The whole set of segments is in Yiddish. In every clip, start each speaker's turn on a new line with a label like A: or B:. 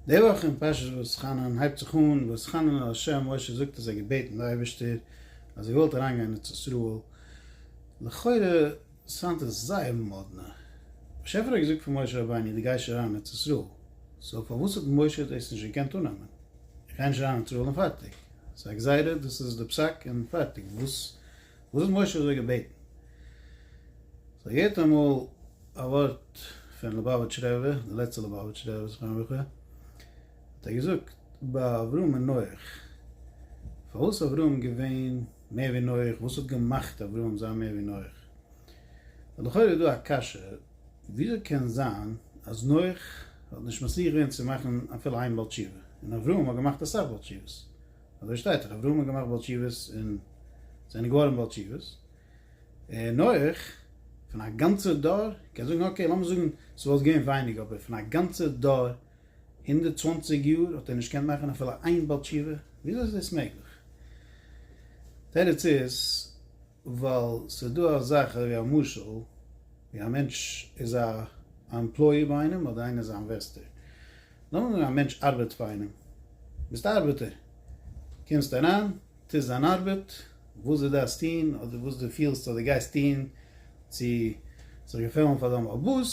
A: די וואך אין פרשת ואתחנן הייבט זיך אן ואתחנן אל השם, משה זאגט אז ער האט געבעטן די אייבערשטער אז ער געוואלט אריינגיין אין ארץ ישראל, לכאורה סאונד עס זייער מאדנע, באשעפער האט געזאגט פאר משה רבינו דו גייסט נישט אריין אין ארץ ישראל, סאו פארוואס האט משה דאס נישט געקענט אננעמען, איך גיי נישט אריין אין ארץ ישראל און פארטיג, ס'איז א גזירה דאס איז די פסק און פארטיג, וואס וואס האט משה אזוי געבעטן? זיי געהערט אמאל א ווארט פון ליבאוויטש רבי, די לעצטע ליבאוויטש רבי זכרון לברכה, האט ער געזאגט ביי אברהם און נח, פארוואס איז אברהם געווען מער ווי נח, וואס האט געמאכט אברהם זיין מער ווי נח? איז לכאורה דא א קשיא, וויאזוי קען זיין אז נח האט נישט מצליח געווען צו מאכן אפילו איין בעל תשובה, און אברהם האט געמאכט אסאך בעל תשובות? אזוי שטייט דאך, אברהם האט געמאכט בעל תשובות און זענען געווארען בעל תשובות, און נח פון א גאנצער דור, קען זאגען אקעי לאמיר זאגען ס'וואלט געווען ווייניג אבער פון א גאנצער דור הונדערט צוואַנציק יאר האט ער נישט געקענט מאכען אפילו איין בעל תשובה? וויאזוי איז דאס מעגליך? תירוץ איז ווייל ס'איז דא א זאך אזוי ווי א משל ווי א מענטש איז א עמפלויער ביי איינעם אדער איינער איז א אינוועסטער נאמען א מענטש ארבעט פאר איינעם, ביסט א ארבעטער, קומסט אריין, טוסט דיין ארבעט, וואס דו דארפסט טון, אדער וואס דו פילסט אז דו גייסט טון צו זיך געפעלן פאר דיין בעל בית,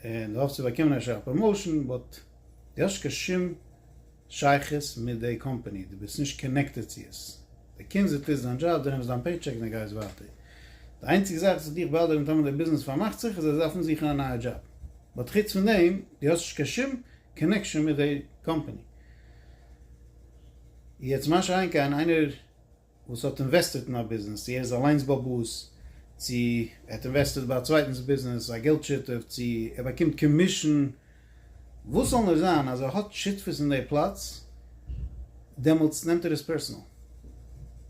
A: און דו האפסט צו באקומען אפשר א פראמאושען, באט דו האסט נישט קיין שום שייכות מיט די קאמפאני, דו ביסט נישט קאנעקטעד צו עס. די קומסט די טוסט דיין דזשאב די נעמסט דיין פעי טשעק די גייסט ווייטער די איינציגע זאך וואס דיך באדערט ניטאמאל די ביזנעס פארמאכט זיך איז אז זיי דארפן זוכן א נייע דזשאב באט חוץ פון דעם די האסט נישט קיין שום קאנעקשאן מיט די קאמפעני יעצט משא כ איינער וואס האט אינוועסטעט אין א ביזנעס צו ער איז אליינס באבוס צו ער האט אינוועסטעט ביי א צווייטענס ביזנעס א געלט שותף צו ער באקומט קאמישען וואס זאל נאר זיין אז ער האט שותפות אין די פלאץ, דעמאלטס נעמט ער עס פערסענאל.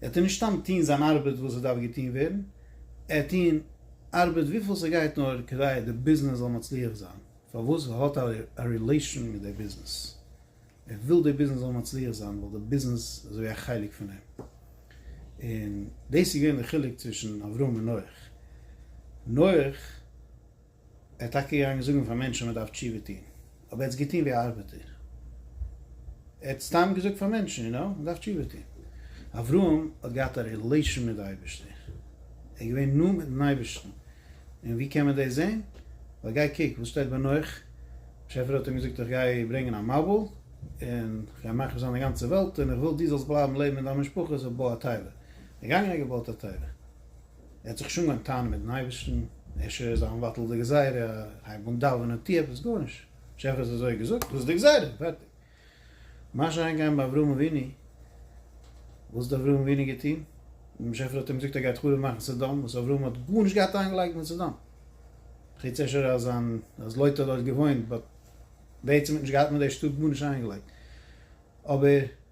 A: ער טאר נישט סתם טוהן זיין ארבעט וואס עס דארף געטוהן ווערן, ער האט טוהן ארבעט וויפיל ס'גייט נאר כדי די ביזנעס זאל מצליח זיין, פארוואס? ווייל ער האט א רילעישאן מיט די ביזנעס, ער וויל די ביזנעס זאל מצליח זיין ווייל די ביזנעס איז אזויווי א חלק פון אים. און דאס איז געווען די חילוק צווישן אברהם און נח. נח. ער איז טאקע געגאנגען זאגן פאר מענטשן מ'דארף תשובה טון, אבער ער האט עס געטון ווי א ארבעטער. ער האט סתם געזאגט פאר מענטשן, יו נאו, מ'דארף תשובה טון. אברהם האט געהאט א רילעישאן מיט די אייבערשטער. ער איז געווען נאנט מיט'ן אייבערשטן. און ווי קען מען דאס זען? ווייל גיי קוק וואס שטייט ביי נח. באשעפער האט אים געזאגט איך גיי ברענגען א מבול, און איך גיי מאכן פארזיין די גאנצע וועלט, און איך וויל דו זאלסט בלייבן לעבן מיט דיין משפחה, סאו בוי א תיבה. ער איז געגאנגען ער האט געבויט א תיבה. ער האט זיך שוין אנגעהויבן טענה'ן מיטן אייבערשטן, ער ש זאל מבטל די גזירה, הייב אן דאווענען, טו עפעס, גארנישט, השי ת האט אזוי געזאגט, דאס איז די גזירה, פערטיג. מה שאין כן ביי אברהם אבינו, וואס האט אברהם אבינו געטון? השי ת האט אים געזאגט ער גייט חרוב מאכן סדום, וואס אברהם האט גארנישט געהאט איינגעלייגט מיט סדום, חוץ אפשר אז זיין, אז לוט האט דארט געוואוינט, באט בעצם האט נישט געהאט מיט די שטאט גארנישט איינגעלייגט, אבער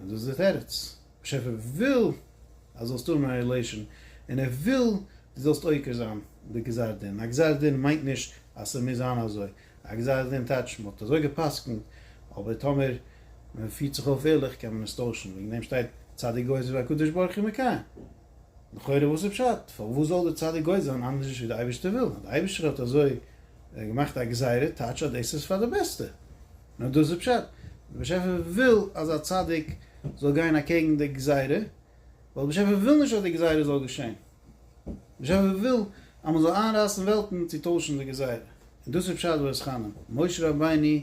A: און דאס איז דער תירוץ, באשעפער וויל אז זאלסט האבן א רילעישאן, און ער וויל דו זאלסט עוקר זיין די גזר דין, א גזר דין מיינט נישט אז ס'מוז זיין אזוי, א גזר דין טייטשט מען האט אזוי גע'פסק'נט, אבער טאמער מען פירט זיך אויף ערליך קען מען עס טוישן, וועגן דעם שטייט צדיק גוזר והקדוש ברוך הוא מקיים. לכאורה וואס איז פשט? פארוואס זאל דער צדיק גוי זיין אנדערש ווי די אייבערשטער וויל? אז די אייבערשטער האט אזוי געמאכט א גזירה טייטש אז דאס איז פאר די בעסטע. נאר דאס איז פשט. דער באשעפער וויל אז א צדיק זאל גיין אקעגן די גזירה, ווייל דער באשעפער וויל נישט אז די גזירה זאל געשען. דער באשעפער וויל אז מען זאל איינרייסן וועלטן צו טוישן די גזירה. און דאס איז פשט ואסכנן, משה רבינו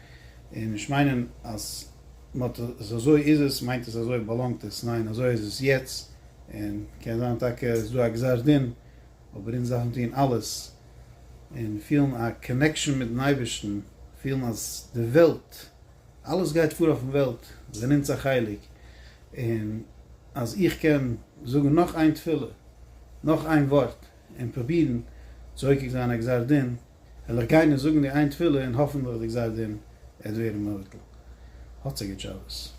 A: און נישט מיינען אז מ'האט עס אזוי איז עס, מיינט עס אזוי באלאנגט עס, ניין אזוי איז עס יעצט, און קען זיין טאקע איז דא א גזר דין, אבער אונז דארפן טון אלעס און פילן א קאנעקשאן מיטן אייבערשטן, פילן אז די וועלט, אלעס גייט פאר אויפן וועלט, זענען אונז א חלק, און אז איך קען זאגן נאך איין תפילה, נאך איין ווארט, און פרובירן צו עוקר זיין א גזר דין, וועל איך גיין און זאגן די איין תפילה און האפענדליך דערזייט דעם עד ווערן מבטל. האטס א גוט שבת.